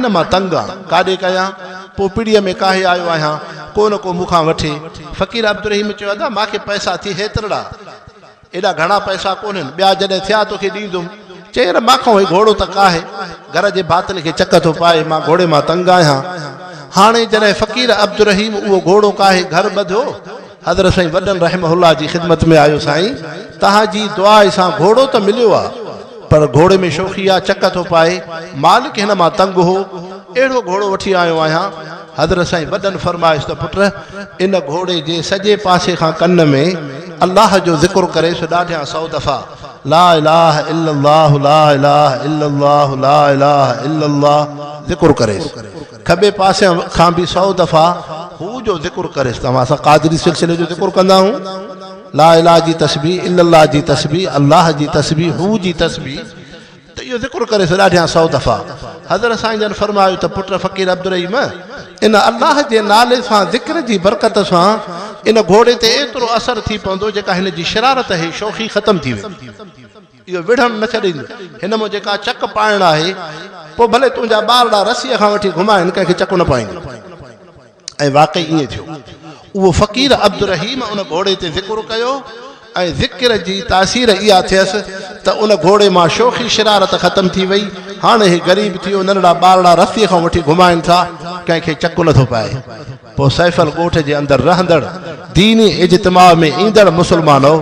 ڪن مان تنگ آ، ڪاڏي ڪيان؟ پوپڙيء ۾ ڪاهي آيو آهيان، ڪو نه ڪو مون کان وٺي. فقير عبدالرحيم چيو، ادا مان کي پئسا ٿئي هيترڙا، ايڏا گهڻا پئسا ڪونهن، ٻيا جڏهن ٿيا تو کي ڏيندم. چئي، يار مان کان هي گهوڙو ته ڪاهي، گهر جي ڀاتن کي چڪ ٿو پائي، مان گهوڙي مان تنگ آهيان. هاڻي جڏهن فقير عبدالرحيم اهو گهوڙو ڪاهي گهر ٻڌو، حضرت سائين وڏن رحمه الله جي خدمت ۾ آيو سائين توهان جي دعاء سان گهوڙو ته مليو آ پر گهوڙي ۾ شوخي آ چڪ ٿو پائي مالڪ هن مان تنگ هو اهڙو گهوڙو وٺي آيو آهيان حضرت سائين وڏن فرمايس ته پٽ ان گهوڙي جي سڄي پاسي کان ڪن ۾ الله جو ذڪر ڪريس ڏاڍيان سئو دفعا لا اله الا الله لا اله الا الله لا اله الا الله ذڪر ڪريس کٻي پاسي کان به سؤ دفعا هو جو ذڪر ڪريس ته اسان قادري سلسلي جو ذڪر ڪندا آهيون لا اله جي تسبيح الا الله جي تسبيح الله جي تسبيح هو جي تسبيح ته اهو ذڪر ڪريس ڏاڍيان سؤ دفعا حضرت سائين جن فرمايو ته پٽ فقير عبدالرحيم ان الله جي نالي سان ذڪر جي برڪت سان ان گهوڙي تي ايترو اثر ٿي پوندو جيڪا هن جي شرارت هي شوخي ختم ٿي ويندي اهو وڙهڻ نه ڇڏيندو. هن مان جيڪا چڪ پائڻ آهي، پوء ڀلي تنهنجا ٻارڙا رسيء کان وٺي گهمائين، ڪنهن کي چڪ نه پائيندو. ۽ واقعي ائين ٿيو. اهو فقير عبدالرحيم ان گهوڙي تي ذڪر ڪيو ۽ ذڪر جي تاثير اها ٿيس ته ان گهوڙي مان شوخي شرارت ختم ٿي وئي. هاڻ هي غريب ٿيو، ننڍڙا ٻارڙا رسيء کان وٺي گهمائين ٿا، ڪنهن کي چڪ نه ٿو پائي. پوء سيفل ڳوٺ جي اندر رهندڙ ديني اجتماع ۾ ايندڙ مسلمانؤ!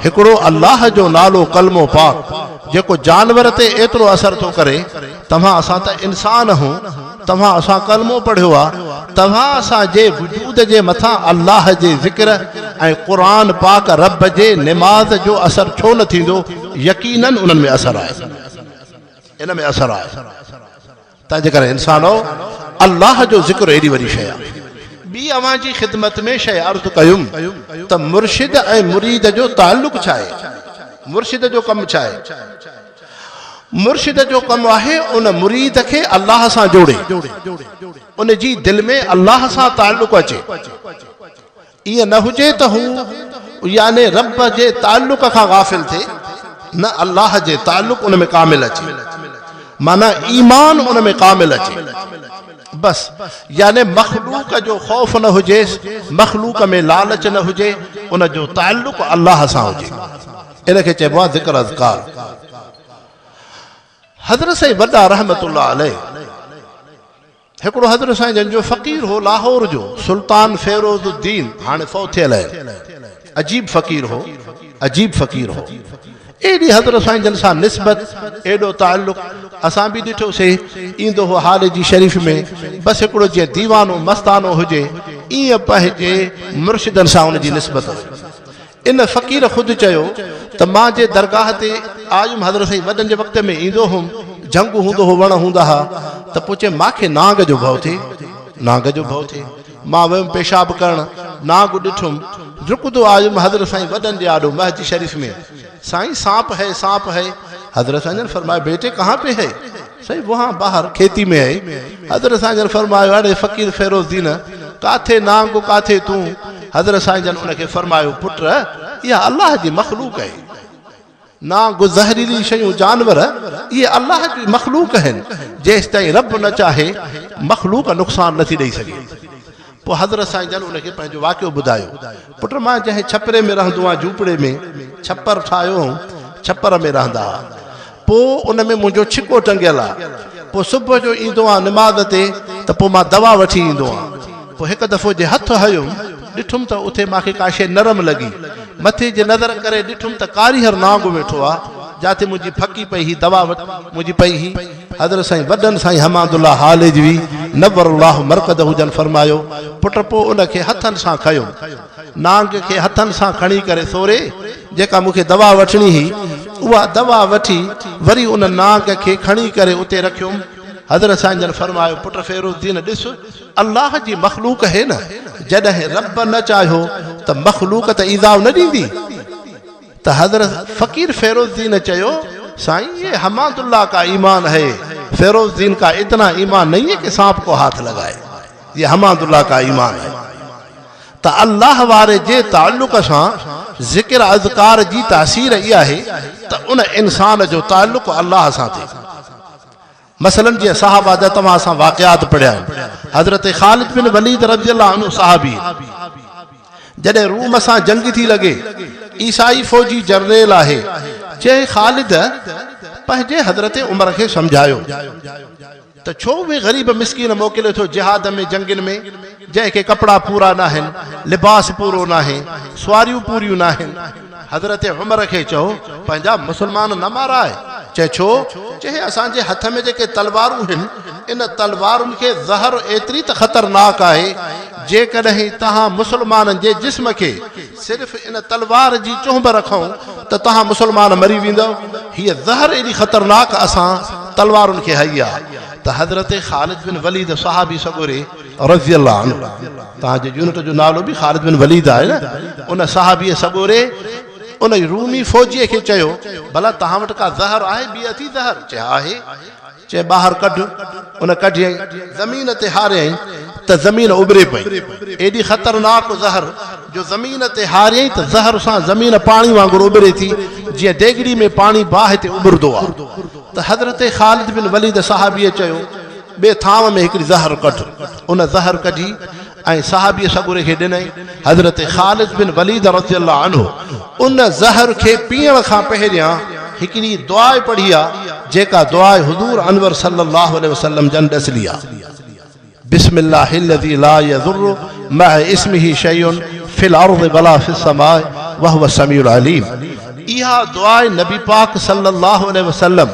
هڪڙو الله جو نالو ڪلمو پاڪ جيڪو جانور تي ايترو اثر ٿو ڪري، توهان اسان ته انسان هون، توهان اسان ڪلمو پڙهيو آ، توهان اسان جي وجود جي مٿان الله جي ذڪر ۽ قرآن پاڪ رب جي نماز جو اثر ڇو نه ٿيندو، يقينن انهن ۾ اثر آهي. ان ۾ اثر آهي. تنهنجي ڪري انسانؤ! الله جو ذڪر ايڏي وڏي شيء آهي. ٻي اوهان جي خدمت ۾ شيء عرض ڪيم ته مرشد ۽ مريد جو تعلق ڇا آهي؟ مرشد جو ڪم ڇا آهي؟ مرشد جو ڪم آهي ان مريد کي الله سان جوڙي، ان جي دل ۾ الله سان تعلق اچي. ائين نه هجي ته هو، يعني رب، جي تعلق کان غافل ٿئي، نه الله جي تعلق ان ۾ ڪامل اچي، معنيٰ ايمان ان ۾ ڪامل اچي. بس، يعني مخلوق جو خوف نه هجيس، مخلوق ۾ لالچ نه هجي، ان جو تعلق الله سان هجي. ان کي چئبو آهي ذڪر اذڪار. حضرت سائين وڏا رحمة الله عليه. هڪڙو حضرت سائين جن جو فقير هو لاهور جو سلطان فيروز الدين هاڻي فوت ٿيل آهي عجيب فقير هو عجيب فقير هو ايڏي حضرت سائين جن سان نسبت ايڏو تعلق اسان به ڏٺو سي ايندو هو حال جي شريف ۾ بس هڪڙو جي ديوانو مستانو هجي ايئن پنهنجي مرشدن سان ان جي نسبت هئي ان فقير خود چيو ته مان جي درگاهه تي آيم حضرت سائين وڏن جي وقت ۾ ايندو هوم جهنگ هوندو هو وڻ هوندا ها ته پوء چيم مان کي نانگ جو ڀؤ ٿئي نانگ جو ڀؤ ٿئي مان ويم پيشاب ڪرڻ نانگ ڏٺم ڊڪندو آيم حضرت سائين وڏن جي آڏو مهجي شريف ۾ سائين سانپ هي سانپ هي حضرت سائين جن فرمايو بيٽي ڪهان پي هي سائين وهان بهار کيتي ۾ آهي. حضرت سائين جن فرمايو اڙي فقير فيروز الدين ڪاٿي نانگ و ڪاٿي تون؟ حضرت سائين جن ان کي فرمايو پٽ اها الله جي مخلوق آهي. نانگ و زهريلي شيون جانور اهي الله جي مخلوق آهن جيستائين رب نه چاهي مخلوق نقصان نٿي ڏئي سگهي. پوء حضرت سائين جن ان کي پنهنجو واقعو ٻڌايو، پٽ مان جنهن ڇپري ۾ رهندو آهيان، جهوپڙي ۾ ڇپر ٺاهيو هئم، ڇپر ۾ رهندا هئا، پوء ان ۾ منهنجو ڇڪو ٽنگيل آهي، پوء صبح جو ايندو آهيان نماز تي ته پوء مان دوا وٺي ايندو آهيان، پوء هڪ دفعو جي هٿ هنيم، ڏٺم ته اٿي مان کي ڪا شيء نرم لڳي، مٿي جي نظر ڪري ڏٺم ته ڪاريهر نانگ ويٺو آهي، جاتي منهنجي ڦڪي پئي هئي، دوا منهنجي پئي هئي. حضرت سائين وڏن سائين حماد الله هاليجوي نور الله مرقده جن فرمايو پٽ پوء ان کي هٿن سان کنيم نانگ کي هٿن سان کڻي ڪري سوري جيڪا مونکي دوا وٺڻي هي اها دوا وٺي وري ان نانگ کي کڻي ڪري اتي رکيم حضرت سائين جن فرمايو پٽ فيروز دين ڏس الله جي مخلوق هي نه جڏهن رب نه چاهيو ته مخلوق ته ايذاء نه ڏيندي ته حضرت فقير فيروز دين چيو سائين يي حماد الله ڪا ايمان هي فيروز دين ڪا اتنا ايمان نهي هي ڪي سانپ ڪو هاٿ لڳائي يي حماد الله ڪا ايمان هي ته الله واري جي تعلق سان ذڪر اذڪار جي تاثير اها هي ته ان انسان جو تعلق الله سان ٿي مثلاً جيئن صحابه جا توهان سان واقعات پڙهيا آهن. حضرت خالد بن وليد رضي الله عنه صحابي جڏهن روم سان جنگ ٿي لڳي، عيسائي فوجي جرنيل آهي، جنهن خالد پنهنجي حضرت عمر کي سمجهايو ته ڇو اهي غريب مسڪين موڪلي ٿو جهاد ۾ جنگين ۾؟ جنهن کي ڪپڙا پورا ناهن، لباس پورو ناهي، سواريون پوريون ناهن. حضرت عمر کي چئو، پنهنجا مسلمان نه مارائي. چئي ڇو؟ چئي اسان جي هٿ ۾ جيڪي تلوارون هن، ان تلوارن کي زهر ايتري ته خطرناڪ آهي، جيڪڏهن توهان مسلمانن جي جسم کي صرف ان تلوار جي چهنب رکئون ته توهان مسلمان مري ويندؤ. هيء زهر ايڏي خطرناڪ اسان تلوارن کي هئي آ ته حضرت خالد بن وليد صحابي سڳوري رضي الله عنه توهان جي يونٽ جو نالو به خالد بن وليد آهي نه ان صحابي سڳوري ان رومي فوجي کي چيو ڀلا توهان وٽ ڪا زهر آهي بي اٿي زهر چي آهي چي ٻاهر ڪڍ ان ڪڍي زمين تي هاريائين ته زمين ابري پئي ايڏي خطرناڪ زهر جو زمين تي هاريائين ته زهر سان زمين پاڻي وانگر ابري ٿي جيئن ديگڙي ۾ پاڻي باهه تي ابردو آهي ته حضرت خالد بن وليد صحابي چيو ٻئي ٿانء ۾ هڪڙي زهر ڪڍ. ان زهر ڪڍي ۽ صحابيء سڳوري کي ڏنائين. حضرت خالد بن وليد رضي الله عنه ان زهر کي پيئڻ کان پهريان هڪڙي دعا پڙهي آ، جيڪا دعا حضور انور صلي الله عليه وسلم جن ڏسلي آ، بسم الله الذي لا يضر مع اسمه شيء في الارض ولا في السماء وهو السميع العليم. اها دعا نبي پاڪ صلي الله عليه وسلم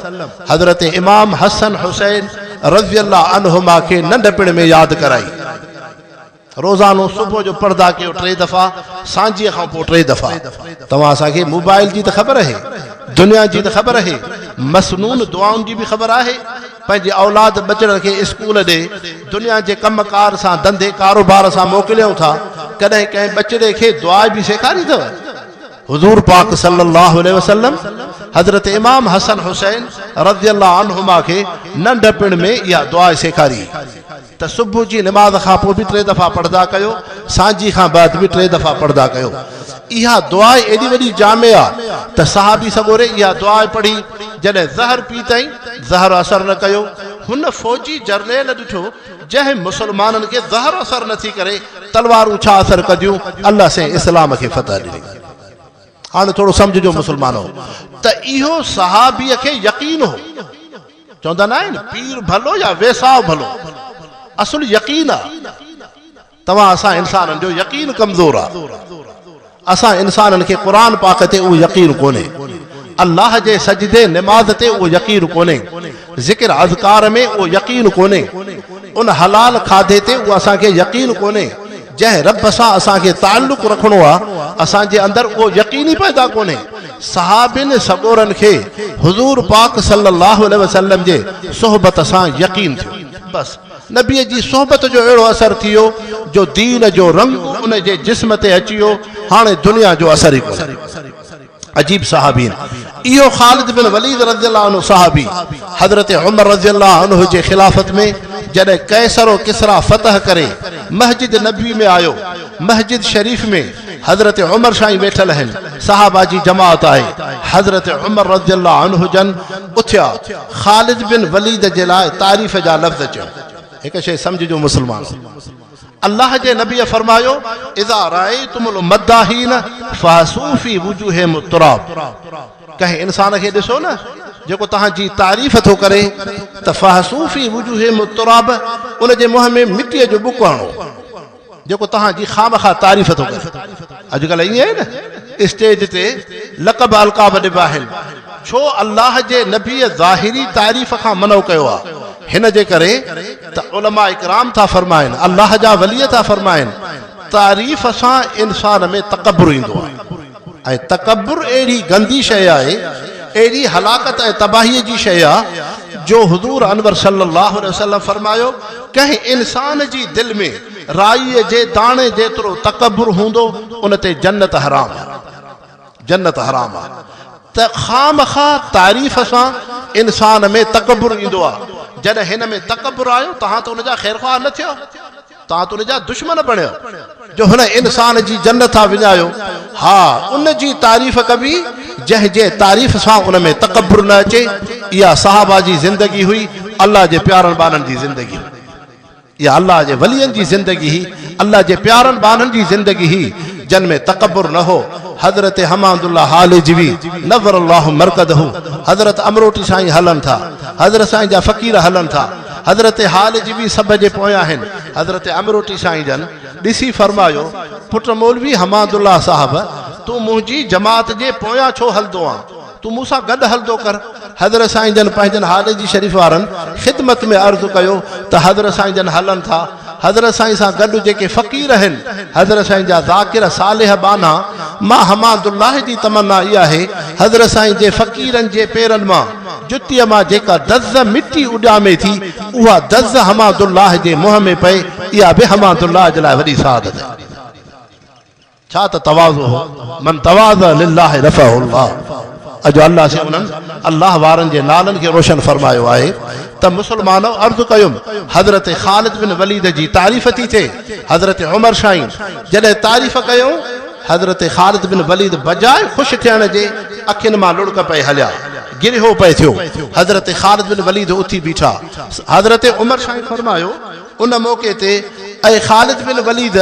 حضرت امام حسن حسين رضي الله عنهما کي ننڍپڻ ۾ ياد ڪرائي. روزانو صبح جو پڙهدا ڪيو ٽي دفعا سانجهيء کان پوء ٽي دفعا. توهان اسان کي موبائل جي ته خبر اهي، دنيا جي ته خبر اهي، مسنون دعائن جي به خبر آهي. پنهنجي اولاد ٻچڙن کي اسڪول ڏي، دنيا جي ڪم ڪار سان، ڌنڌي ڪاروبار سان موڪليون ٿا، ڪڏهن ڪنهن ٻچڙي کي دعا به سيکاري اٿو؟ حضور پاڪ صلّي اللّٰه عليه وسلّم حضرت امام حسن حسين رضي الله عنهما کي ننڍپڻ ۾ اها دعا سيکاري ته صبح جي نماز کان پوء به ٽي دفعا پڙهندا ڪيو، سانجهي کان بعد به ٽي دفعا پڙهندا ڪيو. اها دعا ايڏي وڏي جامع آ ته صحابي سڳوري اها دعا پڙهي جڏهن زهر پيتائين، زهر اثر نه ڪيو. هن فوجي جرنيل ڏٺو جنهن مسلمانن کي زهر اثر نه ٿي ڪري تلوارون ڇا اثر ڪنديون الله سائين اسلام کي فتح ڏني هاڻي ٿورو سمجهجو مسلمانو ته اهو صحابي کي يقين هو چوندا نه آهن پير ڀلو يا ويساهه ڀلو اصل يقين آ توهان اسان انسانن جو يقين ڪمزور آ. اسان انسانن کي قرآن پاڪ تي اهو يقين ڪونهي. الله جي سجدي نماز تي اهو يقين ڪونهي. ذڪر اذڪار ۾ اهو يقين ڪونهي. ان حلال کاڌي تي اهو اسان کي يقين ڪونهي. جنهن رب سان اسان کي تعلق رکڻو آ اسان جي اندر اهو يقين ئي پيدا ڪونهي. صحابين سڳورن کي حضور پاڪ صلي الله عليه وسلم جي صحبت سان يقين ٿيو. بس نبيء جي صحبت جو اهڙو اثر ٿيو جو دين جو رنگ ان جي جسم تي اچي ويو، هاڻي دنيا جو اثر ئي ڪونهي. عجيب صحابين. اهو خالد بن وليد رضي الله عنه صحابي حضرت عمر رضي الله عنه جي خلافت ۾ جڏهن قيصر و ڪسريٰ فتح ڪري مسجد نبوي ۾ آيو، مسجد شريف ۾. حضرت عمر سائين ويٺل آهن صحابه جي جماعت آهي حضرت عمر رضي الله عنه جن اٿيا خالد بن وليد جي لاء تعريف جا لفظ چيو هڪ شيء سمجھ جو مسلمان الله جي نبي فرمايو اذا رايتم المداهين فاسو في وجوههم التراب ڪنهن انسان کي ڏسو نه جيڪو تهان جي تعريف ٿو ڪري ته فاسو في وجوههم التراب ان جي منهن ۾ مٽي جو بڪو هڻو جيڪو توهان جي خامخواه تعريف ٿو ڪري. اڄڪلهه ائين آهي نه اسٽيج تي لقب القاب ڏبا آهن. ڇو الله جي نبي ظاهري تعريف کان منع ڪيو آهي؟ هن جي ڪري ته علماء ڪرام ٿا فرمائن، الله جا ولي ٿا فرمائن، تعريف سان انسان ۾ تڪبر ايندو آهي. ۽ تڪبر اهڙي گندي شيء آهي، اهڙي هلاڪت ۽ تباهيء جي شيء آ، جو حضور انور صلّي اللّٰه عليه وسلّم فرمايو، ڪنهن انسان جي دل ۾ رائيء جي داڻي جيترو تڪبر هوندو، ان تي جنّت حرام آ، جنّت حرام آ، ته خامخواه تعريف سان انسان ۾ تڪبر ايندو آ، جڏهن هن ۾ تڪبر آيو، توهان ته ان جا خيرخواه نه ٿيو. توهان ته ان جا دشمن بڻيو جو هن انسان جي جنت ٿا وڃايو. ها ان جي تعريف ڪبي جنهن جي تعريف سان ان ۾ تڪبر نه اچي. اها صحابه جي زندگي هئي، الله جي پيارن ٻانهن جي زندگي هئي. اها الله جي ولين جي زندگي هئي، الله جي پيارن ٻانهن جي زندگي هئي جن ۾ تڪبر نه هو. حضرت حماد الله هالجوي نور الله مرقده، حضرت امروٽي سائين هلن ٿا، حضرت سائين جا فقير هلن ٿا. حضرت حال جي به سڀ جي پويان آهن. حضرت امروٽي سائين جن ڏسي فرمايو، پٽ مولوي حماد الله صاحب! تون منهنجي جماعت جي پويان ڇو هلندو آن؟ تون مون سان گڏ هلندو ڪر. حضرت سائين جن پنهنجن حال جي شريف وارن خدمت ۾ عرض ڪيو ته حضرت سائين جن هلن ٿا. حضرت سائين سان گڏ جيڪي فقير آهن حضرت سائين جا ذاڪر صالح ٻانها مان حماد الله جي تمنا اها آهي حضرت سائين جي فقيرن جي پيرن مان جتيء مان جيڪا دز مٽي اڏامي ٿي اها دز حماد الله جي منهن ۾ پئي اها به حماد الله جي لاء وڏي سعادت آهي. ڇا ته تواضع هو، من تواضع لله رفعه الله اڄ الله سين انهن الله وارن جي نالن کي روشن فرمايو آهي ته مسلمانؤ عرض ڪيم حضرت خالد بن وليد جي تعريف ٿي ٿئي حضرت عمر شاهين جڏهن تعريف ڪيائون حضرت خالد بن وليد بجاء خوش ٿيڻ جي اکين مان لڙڪ پئي هليا گريهو پئي ٿيو حضرت خالد بن وليد اٿي بيٺا حضرت عمر شاهين فرمايو ان موقعي تي اي خالد بن وليد!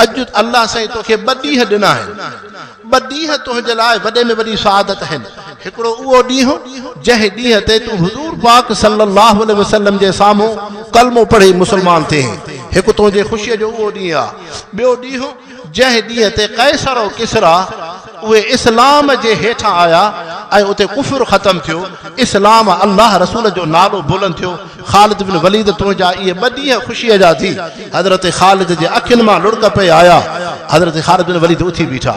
اڄ الله سائين توکي ٻه ڏينهن ڏنا آهن. ٻه ڏينهن تنهنجي لاء وڏي ۾ وڏي سعادت آهن. هڪڙو اهو ڏينهن جنهن ڏينهن تي تون حضور پاڪ صلّي اللّٰه عليه وسلّم جي سامهون ڪلمو پڙهي مسلمان ٿئين. هڪ تنهنجي خوشيء جو اهو ڏينهن آهي. ٻيو ڏينهن، جنهن ڏينهن تي قيصر و ڪسريٰ اهي اسلام جي هيٺان آيا ۽ اتي ڪفر ختم ٿيو، اسلام ۽ الله رسول جو نالو بلند ٿيو، خالد بن وليد تنهنجا اهي ٻه ڏينهن خوشيء جا ٿي، حضرت خالد جي اکين مان لڙڪ پئي آيا، حضرت خالد بن وليد اٿي بيٺا،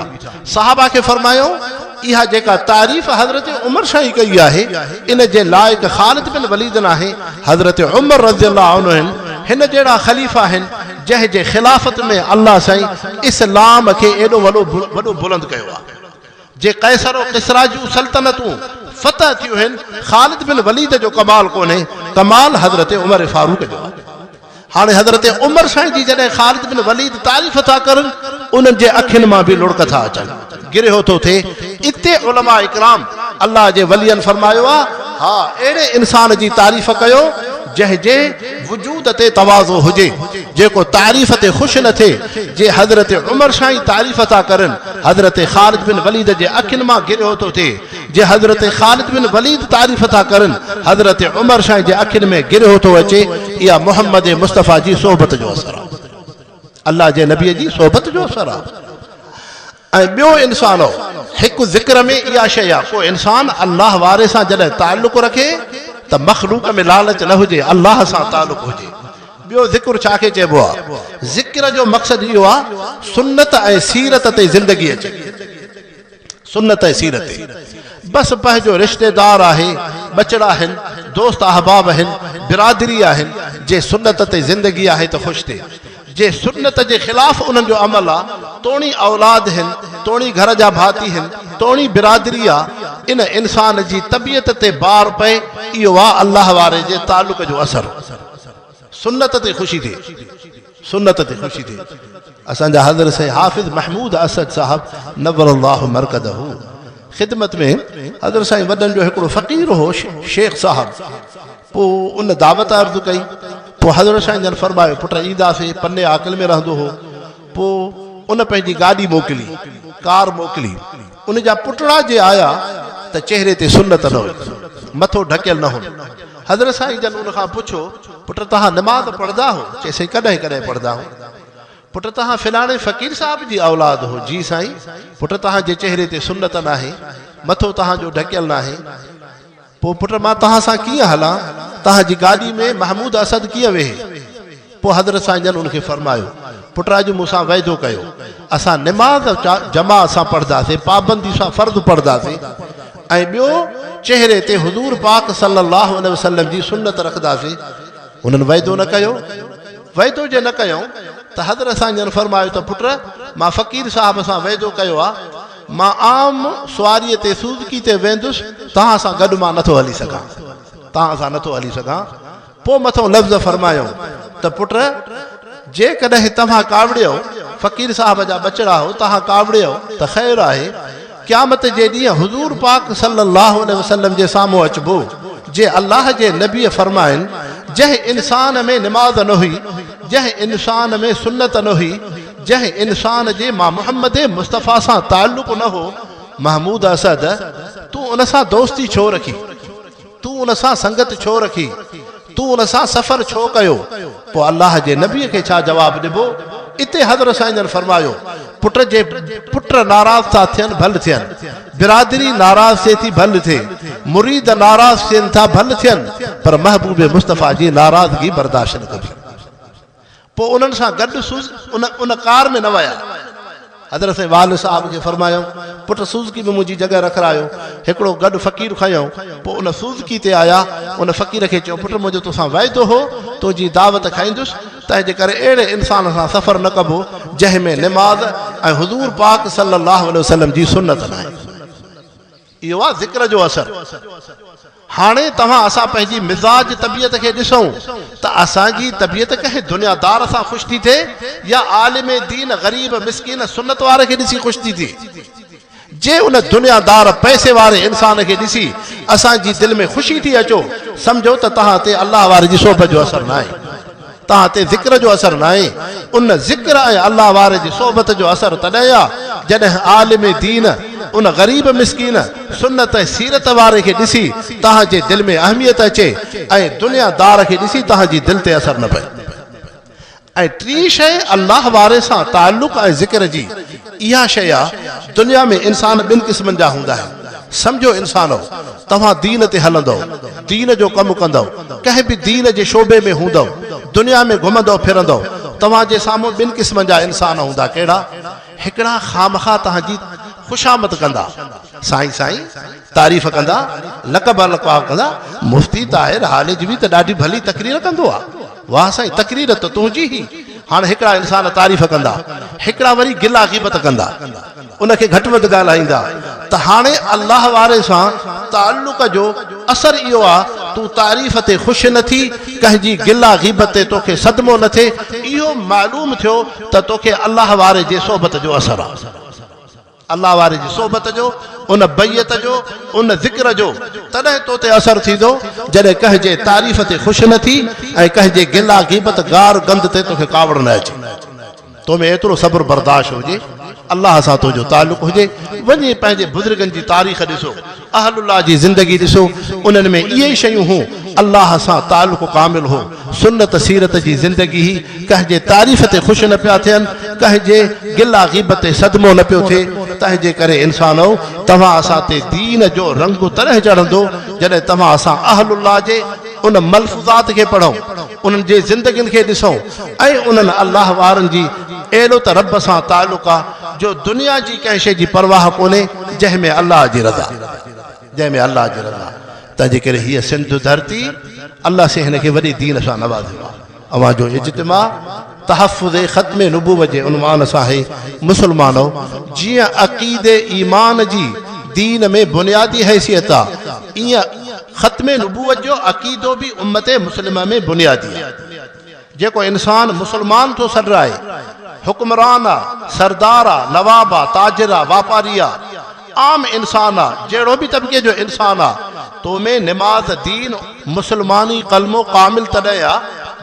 صحابه کي فرمايائون، اها جيڪا تعريف حضرت عمر سائين ڪئي آهي، ان جي لائق خالد بن وليد ناهي، حضرت عمر رضي الله عنه آهن، هن جهڙا خليفا آهن، جنهن جي خلافت ۾ الله سائين اسلام کي ايڏو وڏو بلند ڪيو آهي. جي قيصر و ڪسريٰ جون سلطنتون فتح ٿيون هين، خالد بن وليد جو ڪمال ڪونهي، ڪمال حضرت عمر فاروق جو آهي. هاڻي حضرت عمر سائين جي جڏهن خالد بن وليد تعريف ٿا ڪرن، انهن جي اکين مان به لڙڪ ٿا اچن. گرهيو ٿو ٿئي. اتي علماء ڪرام الله جي ولين فرمايو آ، ها اهڙي انسان جي تعريف ڪيو جنهن جي وجود تي تواضع هجي، جيڪو تعريف تي خوش نه ٿئي، جي حضرت عمر سائين تعريف ٿا ڪرن، حضرت خالد بن وليد جي اکين مان گرهيو ٿو ٿئي، جي حضرت خالد بن وليد تعريف ٿا ڪرن، حضرت عمر سائين جي اکين ۾ گرهيو ٿو اچي، اها محمد مصطفيٰ جي صحبت جو اثر آ. الله جي نبي جي صحبت جو اثر آ ۽ ٻيو انسانو هڪ ذڪر ۾ اها شيء آ ڪو انسان الله واري سان جڏهن تعلق رکي ته مخلوق ۾ لالچ نه هجي الله سان تعلق هجي ٻيو ذڪر ڇا کي چئبو آ ذڪر جو مقصد اهو آ سنت ۽ سيرت تي زندگي اچي سنت ۽ سيرت بس پنهنجو رشتيدار آهي، ٻچڙا آهن، دوست احباب آهن، برادري آهن، جي سنت تي زندگي آهي ته خوش ٿئي، جي سنت جي خلاف انهن جو عمل آ توڻي اولاد هن، توڻي گهر جا ڀاتي هن، توڻي برادري آ، ان انسان جي طبيعت تي بار پئي، اهو آ الله واري جي تعلق جو اثر، سنت تي خوشي ٿئي. سنت تي خوشي ٿئي. اسان جا حضرت سيد حافظ محمود اسد صاحب نور الله مرقده خدمت ۾ حضرت سائين وڏن جو هڪڙو فقير هو شيخ صاحب پوء ان دعوت عرض ڪئي پوء حضرت سائين جن فرمايو پٽ اينداسي پني عاقل ۾ رهندو هو پوء ان پنهنجي گاڏي موڪلي ڪار موڪلي ان جا پٽڙا جي آيا ته چهري تي سنت نه هئي، مٿو ڍڪيل نه هن. حضرت سائين جن ان کان پڇو، پٽ توهان نماز پڙهندا هو؟ چيس سائين ڪڏهن ڪڏهن پڙهندا هون. پٽ توهان فلاڻي فقير صاحب جي اولاد هو؟ جي سائين. پٽ توهان جي چهري تي سنت ناهي، مٿو توهان جو ڍڪيل ناهي. پوء پٽ مان توهان سان ڪيئن هلان؟ توهان جي گاڏي ۾ محمود اسد ڪيئن ويهي؟ پوء حضرت سائين جن ان کي فرمايو، پٽ اڄ مون سان وعدو ڪيو، اسان نماز جماعت سان پڙهنداسين، پابندي سان فرض پڙهنداسين ۽ ٻيو چهري تي حضور پاڪ صلي الله عليه وسلم جي سنت رکنداسين، انهن وعدو نه ڪيو؟ وعدو جي نه ڪيائون ته حضرت سائين جن فرمايو ته پٽ مان فقير صاحب سان وعدو ڪيو آهي، مان عام سواريء تي سوزڪي تي ويندس، توهان سان گڏ مان نٿو هلي سگهان. توهان سان نٿو هلي سگهان. پوء مٿئون لفظ فرمايو ته پٽ! جيڪڏهن توهان ڪاوڙيو، فقير صاحب جا ٻچڙا هو، توهان ڪاوڙيو ته خير آهي، قيامت جي ڏينهن حضور پاڪ صلّي اللّٰه عليه وسلّم جي سامهون اچبو. جي الله جي نبيء فرمائن، جنهن انسان ۾ نماز نه هئي، جنهن انسان ۾ سنّت نه هئي، جنهن انسان جي مان محمد مصطفيٰ سان تعلق نه هو، محمود اسد، تون ان سان دوستي ڇو رکي؟ تون ان سان سنگت ڇو رکي؟ تون ان سان سفر ڇو ڪيو؟ پوء الله جي نبيء کي ڇا جواب ڏبو؟ اتي حضرت سائين جن فرمايو، پٽ جي پٽ ناراض ٿا ٿين ڀل ٿين، برادري ناراض ٿئي ٿي ڀل ٿئي، مريد ناراض ٿين ٿا ڀل ٿين، پر محبوب مصطفيٰ جي ناراضگي برداشت نه ڪبي. پوء انهن سان گڏ سوز ان ان ڪار ۾ نه ويا. حضرت سائين والد صاحب کي فرمايائون، پٽ سوزڪي ۾ منهنجي جڳهه رکرايو. هڪڙو گڏ فقير کنيائون. پوء ان سوزڪي تي آيا. ان فقير کي چيو، پٽ منهنجو توسان وعدو هو، تنهنجي دعوت کائيندس، تنهنجي ڪري اهڙي انسان سان سفر نه ڪبو، جنهن ۾ نماز ۽ حضور پاڪ صلي الله عليه وسلم جي سنت ناهي. اهو آ ذڪر جو اثر. هاڻي توهان اسان پنهنجي مزاج طبيعت کي ڏسون ته اسان جي طبيعت ڪنهن دنيا دار سان خوش ٿي ٿئي يا عالم دين غريب مسڪين سنت واري کي ڏسي خوش ٿي ٿئي. جي ان دنيا دار پئسي واري انسان کي ڏسي اسان جي دل ۾ خوشي ٿي اچو سمجهو ته توهان تي الله واري جي سوڀ جو اثر ناهي. تان تي ذڪر جو اثر ناهي، ان ذڪر ۽ الله واري جي صحبت جو اثر تڏهن آ، جڏهن عالم دين ان غريب مسڪين، سنت ۽ سيرت واري کي ڏسي تان جي دل ۾ اهميت اچي ۽ دنيا دار کي ڏسي تان جي دل تي اثر نه پئي. ۽ ٽين شيء الله واري سان تعلق ۽ ذڪر جي. اها شيء آ، دنيا ۾ انسان ٻن قسمن جا هوندا آهن. سمجهو انسانؤ! توهان دين تي هلندؤ، دين جو ڪم ڪندؤ، ڪنهن به دين جي شعبي ۾ هوندؤ، دنيا ۾ گهمندؤ ڦرندؤ، توهان جي سامهون ٻن قسمن جا انسان هوندا، ڪهڙا؟ هڪڙا خامخواه توهان جي خوشامد ڪندا، سائين سائين! تعريف ڪندا لقب القاب ڪندا مفتي طاهر هالج به ته ڏاڍي ڀلي تقرير ڪندو آ واه سائين تقرير ته تنهنجي هي هاڻ هڪڙا انسان تعريف ڪندا هڪڙا وري گلا غيبت ڪندا ان کي گهٽ وڌ ڳالهائيندا ته هاڻي الله واري سان تعلق جو اثر اهو آ تون تعريف تي خوش نه ٿي ڪنهن جي گلا غيبت تي توکي صدمو نه ٿئي اهو معلوم ٿيو ته توکي الله واري جي صحبت جو اثر آ. الله واري جي صحبت جو، ان بيعت جو، ان ذڪر جو تڏهن تو تي اثر ٿيندو جڏهن ڪنهن جي تعريف تي خوش نه ٿي ۽ ڪنهن جي گلا غيبت گار گند تي توکي ڪاوڙ نه اچي. تو ۾ ايترو صبر برداشت هجي، الله سان تنهنجو تعلق هجي، وڃي پنهنجي بزرگن جي تاريخ ڏسو اهل الله جي زندگي ڏسو انهن ۾ اهي ئي شيون هون الله سان تعلق ڪامل هو سنت سيرت جي زندگي هي ڪنهن جي تعريف تي خوش نه پيا ٿين ڪنهن جي گلا غيبت تي صدمو نه پيو ٿئي تنهنجي ڪري انسانؤ توهان اسان تي دين جو رنگ تڏهن چڙهندو جڏهن توهان اسان اهل الله جي ان ملفوظات کي پڙهو. انهن جي زندگين کي ڏسو ۽ انهن الله وارن جي اهڙو ته رب سان تعلق آ جو دنيا جي ڪنهن شيء جي پرواهه ڪونهي جنهن ۾ الله جي رضا جنهن ۾ الله جي رضا تنهن جي ڪري هيء سنڌ ڌرتي الله سين هن کي وڏي دين سان نوازيو آ اوهان جو اجتماع تحفظ ختم نبوت جي عنوان سان اي مسلمانؤ! جيئن عقيدي ايمان جي دين ۾ بنيادي حيثيت آ، ايئن ختم نبوت جو عقيدو به امت مسلمه ۾ بنيادي آ. جيڪو انسان مسلمان ٿو سڏرائي، حڪمران آ، سردار آ، نواب آ، تاجر آ، واپاري آ، عام انسان آ جهڙو به طبقي جو انسان آ تو ۾ نماز دين مسلماني ڪلمو ڪامل تڏهن آ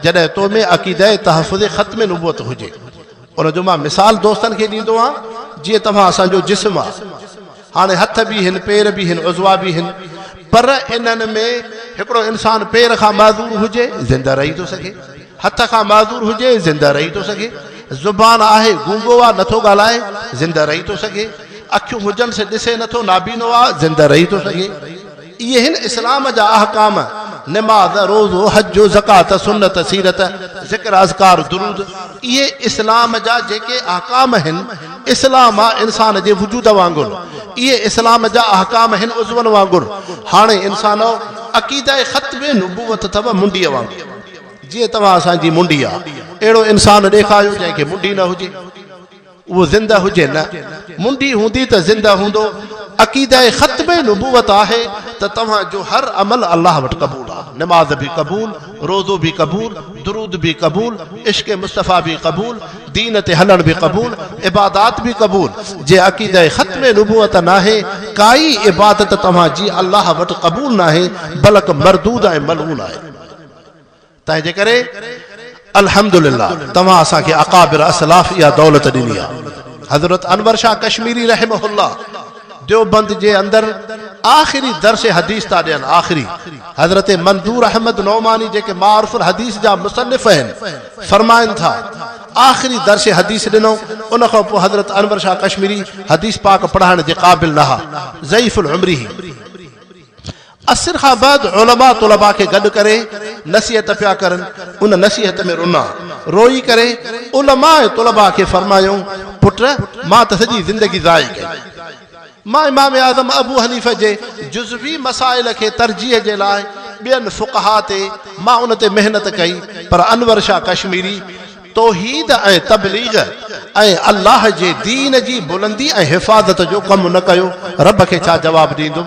جڏهن تو ۾ عقيده تحفظ ختم نبوت هجي ان جو مان مثال دوستن کي ڏيندو آ جيئن توهان اسان جو جسم آ هاڻي هٿ به هن پير به هن عضوا به هن پر انهن ۾ هڪڙو انسان پير کان معذور هجي زنده رهي ٿو سگهي هٿ کان معذور هجي، زنده رهي ٿو سگهي. زبان آهي، گونگو آ، نٿو ڳالهائي، زنده رهي ٿو سگهي. اکيون هجنس، ڏسي نٿو، نابينو آ، زنده رهي ٿو سگهي. اهي هن اسلام جا احڪام، نماز، روزو، حج، زڪوات، سنت، سيرت، ذڪر، اذڪار، درود، اهي اسلام جا جيڪي احڪام هن، اسلام آ انسان جي وجود وانگر، اهي اسلام جا احڪام هن عضون وانگر. هاڻي انسانؤ! عقيده ختم نبوت اٿو منڊيء وانگر. جيئن توهان اسان جي منڊي آ اهڙو انسان ڏيکاريو جنهن کي منڊي نه هجي اهو زنده هجي نه منڊي هوندي ته زنده هوندو عقيده ختم نبوت آهي ته توهان جو هر عمل الله وٽ قبول آ نماز به قبول روزو به قبول درود به قبول عشق مصطفي به قبول دين تي هلڻ به قبول عبادات به قبول جي عقيده ختم نبوت ناهي ڪائي عبادت توهان جي الله وٽ قبول ناهي بلڪ مردود ۽ ملعون آهي تنهنجي ڪري الحمدلله توهان اسان کي اڪابر اسلاف اها دولت ڏني آهي. حضرت انور شاهه ڪشميري رحمه الله ديوبند جي اندر آخري درس حديث ٿا ڏين آخري حضرت منظور احمد نعماني جيڪي معارف الحديث جا مصنف آهن فرمائن ٿا آخري درس حديث ڏنو ان کان پوء حضرت انور شاهه ڪشميري حديث پاڪ پڙهائڻ جي قابل نه ها ضعيف العمري هي عصر کان بعد علماء طلباء کي گڏ ڪري نصيحت پيا ڪرن، ان نصيحت ۾ رونا، روئي ڪري علماء طلباء کي فرمايائون، پٽ! مان ته سڄي زندگي ضائع ڪئي، مان امام اعظم ابو حنيفه جي جزوي مسائل کي ترجيح جي لاء ٻين فقهاء تي مان ان تي محنت ڪئي پر انور شاهه ڪشميري، توحيد ۽ تبليغ ۽ الله جي دين جي بلندي ۽ حفاظت جو ڪم نه ڪيو، رب کي ڇا جواب ڏيندم؟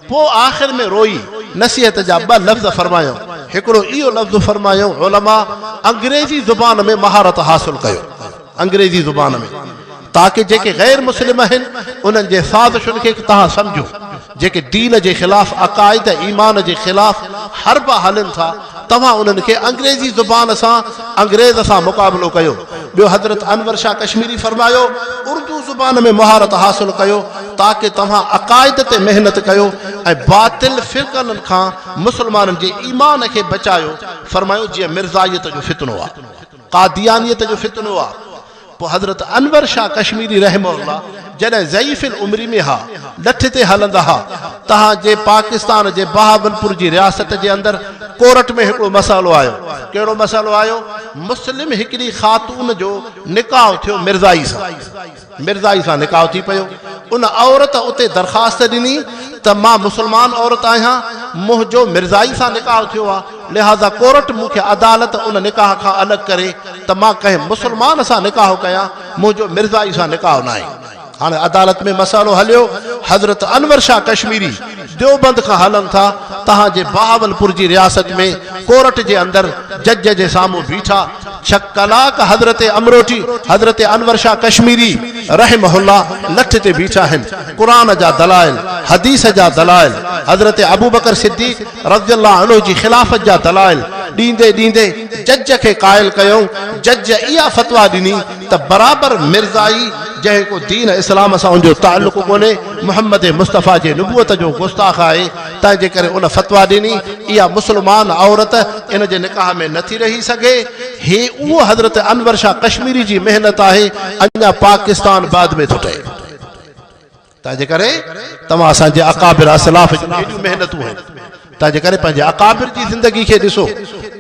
پوء آخر ۾ روئي نصيحت جا ٻه لفظ فرمايائون، هڪڙو اهو لفظ فرمايائون، علماء انگريزي زبان ۾ مهارت حاصل ڪيو، انگريزي زبان ۾. تاڪه جيڪي غير مسلم آهن انهن جي سازشن کي به توهان سمجهو، جيڪي دين جي خلاف عقائد ۽ ايمان جي خلاف حربا هلن ٿا، توهان انهن کي انگريزي زبان سان انگريز سان مقابلو ڪيو. ٻيو حضرت انور شاهه ڪشميري فرمايو اردو زبان ۾ مهارت حاصل ڪيو تاڪه توهان عقائد تي محنت ڪيو ۽ باطل فرقن کان مسلمانن جي ايمان کي بچايو فرمايو جيئن مرزائيت جو فتنو آ. قاديانيت جو فتنو آ پوء حضرت انور شاھ ڪشميري رحمه الله جڏهن ضعيف العمري ۾ ھا لٺ تي ھلندا ھا تان جي پاڪستان جي بهاولپور جي رياست جي اندر ڪورٽ ۾ ھڪڙو مسئلو آيو ڪهڙو مسئلو آيو مسلم ھڪڙي خاتون جو نڪاح ٿيو مرزائي سان مرزائي سان نڪاح ٿي پيو. ان عورت اتي درخواست ڏني ته مان مسلمان عورت آهيان، منهنجو مرزائي سان نڪاح ٿيو آهي، لهٰذا ڪورٽ مون کي عدالت ان نڪاح کان الڳ ڪري ته مان ڪنهن مسلمان سان نڪاح ڪيان، منهنجو مرزائي سان نڪاح ناهي. هاڻي عدالت ۾ مسئلو هليو. حضرت انور شاهه ڪشميري ديوبند کان هلن ٿا، تهان جي بهاولپور جي رياست ۾ ڪورٽ جي اندر جج جي سامهون بيٺا، ڇهه ڪلاڪ حضرت امروٽي حضرت انور شاهه ڪشميري رحمه الله لٺ تي بيٺا آهن قرآن جا دلائل حديث جا دلائل حضرت ابوبڪر صديق رضي الله عنه جي خلافت جا دلائل ڏيندي ڏيندي جج کي قائل ڪيائون جج اها فتويٰ ڏني ته برابر مرزائي جنهن ڪو دين اسلام سان ان جو تعلق ڪونهي محمد مصطفيٰ جي نبوت جو گستاخ آهي تنهن جي ڪري ان فتويٰ ڏني، اها مسلمان عورت ان جي نڪاح ۾ نٿي رهي سگهي. هي اهو حضرت انور شاهه ڪشميري جي محنت آهي، اڃا پاڪستان بعد ۾ ٿو ٺهي. تنهن جي ڪري توهان اسان جي اڪابر اسلاف جون هيڏيون محنتون آهن، تنهن جي ڪري پنهنجي اڪابر جي زندگي کي ڏسو،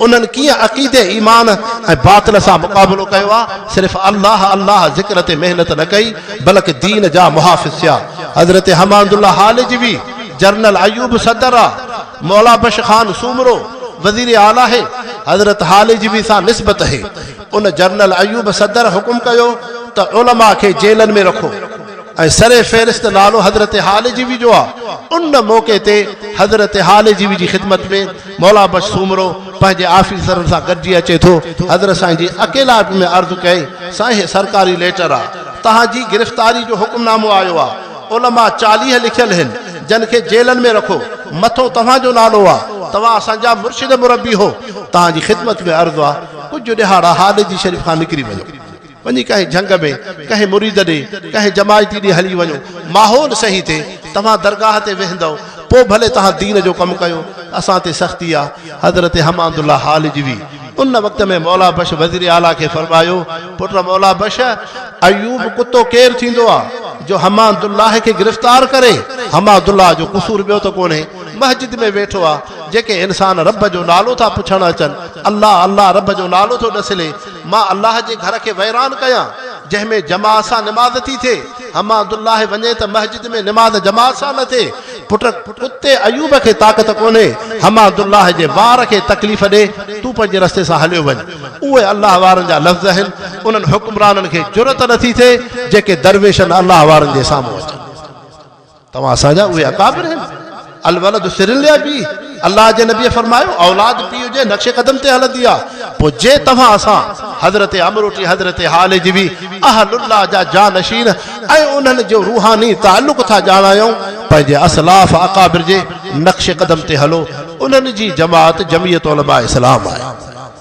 انهن ڪيئن عقيدي، ايمان ۽ باطل سان مقابلو ڪيو آهي، صرف الله الله ذڪر تي محنت نه ڪئي، بلڪ دين جا محافظ ٿيا. حضرت حمادالله هالجوي. جنرل ايوب صدر آ، مولا بخش خان سومرو وزير اعليٰ هي، حضرت هاليجي به سان نسبت هي. ان جنرل ايوب صدر حڪم ڪيو ته علماء کي جيلن ۾ رکو ۽ سر فهرست نالو حضرت هاليجيوي جو آ. ان موقعي تي حضرت هاليجيوي جي خدمت ۾ مولا بخش سومرو پنهنجي آفيسرن سان گڏجي اچي ٿو. حضرت سائين جي اڪيلائپ ۾ عرض ڪئي، سائين هي سرڪاري ليٽر آ، توهان جي گرفتاري جو حڪم نامو آيو آ. علماء چاليهه لکيل هن جن کي جيلن ۾ رکو مٿو توهان جو نالو آ توهان اسان جا مرشد مربي هو توهان جي خدمت ۾ عرض آ ڪجهه ڏهاڙا هاليجي شريف کان نڪري وڃو وڃي ڪنهن جهنگ ۾ ڪنهن مريد ڏي ڪنهن جماعتي ڏي هلي وڃو ماحول صحيح ٿي توهان درگاهه تي ويهندؤ پو ڀلي توهان دين جو ڪم ڪيو اسان تي سختي آ حضرت حمادالله هاليجوي ان وقت ۾ مولا بخش وزير اعليٰ کي فرمايو، پٽ مولا بخش، ايوب ڪتو ڪير ٿيندو آ، جو حماد الله کي گرفتار ڪري، حماد الله جو قصور ٻيو ته ڪونهي، مسجد ۾ ويٺو آ، جيڪي انسان رب جو نالو ٿا پڇڻ اچن، الله الله رب جو نالو ٿو ڏسلي، مان الله جي گهر کي ويران ڪيان، جنهن ۾ جماعت سان نماز ٿي ٿئي، حماد الله وڃي ته مسجد ۾ نماز جماعت سان نه ٿئي، پٽ ڪتي ايوب کي طاقت ڪونهي، حماد الله جي وار کي تڪليف ڏي، تون پنهنجي رستي سان هليو وڃ. اهي الله وارن جا لفظ آهن، انهن حڪمرانن کي جرئت نٿي ٿئي، جيڪي درويشن الله وارن جي سامهون اچن. توهان اسان جا اهي اڪابر آهن، الولد سر لابيه. الله جي نبيء فرمايو، اولاد پيء جي نقش قدم تي هلندي آ، پوء جي توهان اسان، حضرت عمرو ٽي حضرت هالجوي، اهل الله جا جانشين ۽ انهن جو روحاني تعلق ٿا ڄاڻايو، پنهنجي اسلاف اڪابر جي نقش قدم تي هلو، انهن جي جماعت جمعيت علماء اسلام آهي.